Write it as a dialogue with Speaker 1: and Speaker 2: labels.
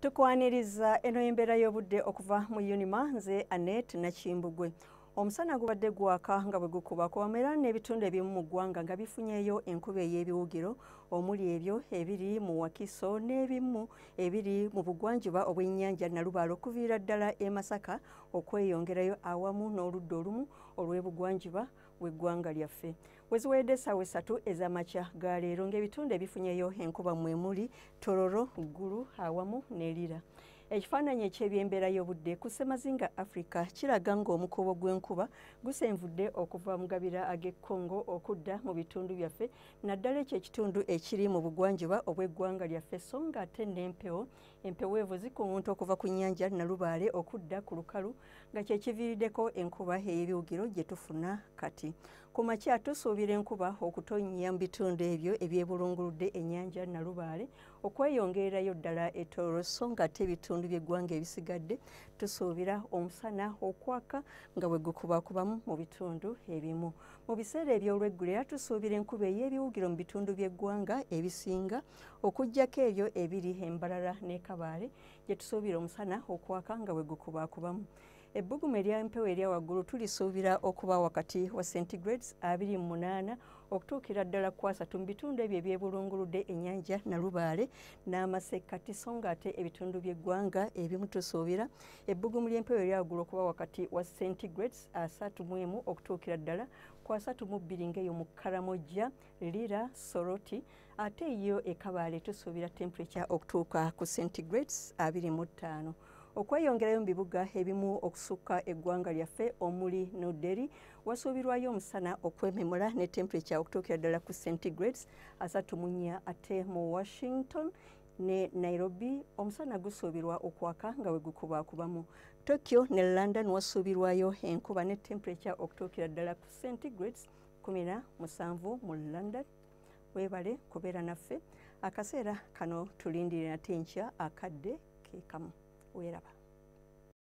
Speaker 1: tukwaniriza eno embeera y'obudde okuva mu unima nze anet nakimbugwe omusana gubadde gwaka nga bwe gukuba kubamu era n'ebitundu ebimu mu ggwanga nga bifunyeyo enkuba ey'ebiwugiro omuli ebyo ebiri mu wakiso n'ebimu ebiri mu bugwanjuba obw'ennyanja nalubaale okuviira ddala e masaka okweyongerayo awamu n'oludda olumu olw'ebugwanjuba w'eggwanga lyaffe weziweredde essaawa esatu ez'amakya ga leero ng'ebitundu ebifunyeyo enkuba mwe muli tororo ggulu awamu ne lira ekifaananyi eky'ebyembeera y'obudde ku ssemazinga africa kiraga ng'omukuubo gw'enkuba gusenvudde okuva mu gabira ag'e congo okudda mu bitundu byaffe naddala ekyo ekitundu ekiri mu bugwanjuba obw'eggwanga lyaffe so ng'ate n'empewo Empeweevu zikumuntu okuva ku nnyanja Nalubaale okudda ku lukalu nga kye kiviiriddeko enkuba ey'ebiwugiro gye tufuna kati. Ku makya tusuubira enkuba okutonnya mu bitundu ebyo ebyebulunguludde ennyanja Nalubaale okweyongererayo ddala e Tooro so ng'ate ebitundu by'eggwanga ebisigadde tusuubira omusana okwaka nga bwe gukubakubamu mu bitundu ebimu. Mu biseera eby'olweggulira tusuubira enkuba ey'ebiwugiro mu bitundu by'eggwanga ebisinga okujjako ebyo ebiri embarara ne kabaale gye tusuubira omusana okwaka nga bwe gukubaakubamu ebbugumu ery'empewo erya waggulu tulisuubira okuba wakati wa centigrades abiri mu munaana okutuukira ddala ku asatu mu bitundu ebyo ebyebulunguludde ennyanja nalubaale n'amasekkati so nga ate ebitundu by'eggwanga ebimu tusuubira ebbugumu ly'empewo erya waggulu okuba wakati wa centigrades asatu mu emu okutuukira ddala ku asatu mu bbiri ng'eyo mu karamojja Lira Soroti ate yo e Kabale tusuubira temperature okutuuka ku centigrades abiri mu ttaano okweyongerayo mu bibuga ebimu okusukka eggwanga lyaffe omuli New Delhi wasuubirwayo omusana okwememula ne temperature okutuukira ddala ku centigrades asatu mu nnya ate mu Washington ne Nairobi omusana gusuubirwa okwaka nga we gukubakubamu Tokyo ne London wasuubirwayo enkuba ne temperature okutuukira ddala ku centigrades kumi na musanvu mu london webale kubeera naffe akaseera kano tulindirira nate nkya akadde kekamu weeraba